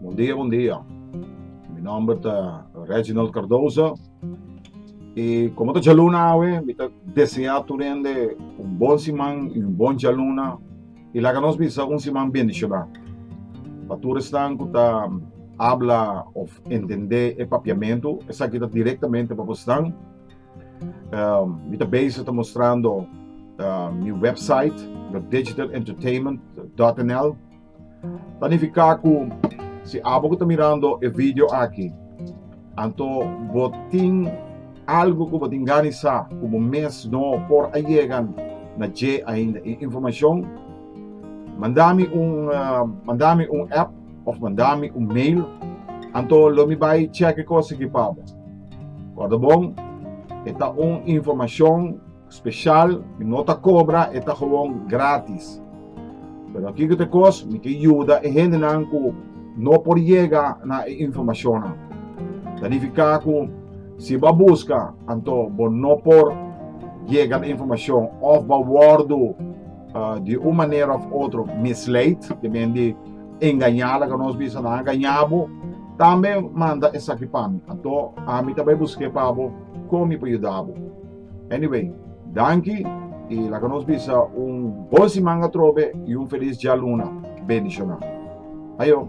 Bon dia bon dia mi nomber ta Reginald Cardoso y como ta djaluna awe mi ta desea tur hende un bon siman y un bon djaluna y laga nos bisa un siman bendiciona pa tur esnan cu ta habla of entende e papiamento esaki ta directamente pa boso nan. Um, mi ta bezig ta mostrando uh, mi website, no digitalentertainment.nl. Planifica cu si abo que ta mirando e video aquí, anto botin algo que botin ganisa como mes no por a llegan na je ainda e información, mandami un uh, mandami un app of mandami un mail, anto lo mi bai cheque cosa que pabo. Kòrdobon, E ta un informashon speshal, mi no ta kobra, e ta gewoon grátis. Pero kiko ta e kos? Mi ke yuda e hendenan ku no por yega na e informashonnan. Ta nifiká ku si bo a buska, anto bo no por yega na e informashon òf bo a wòrdu di un manera òf otro misleid, ke men di, Engañá, laga nos bisa nan a gañá bo, tambe manda esaki pa mi, anto ami ta bai busk'é pa bo kon mi por yuda bo. Anyway, danki i laga nos bisa un bon siman atrobe i un felis djaluna bendishoná. Ayo!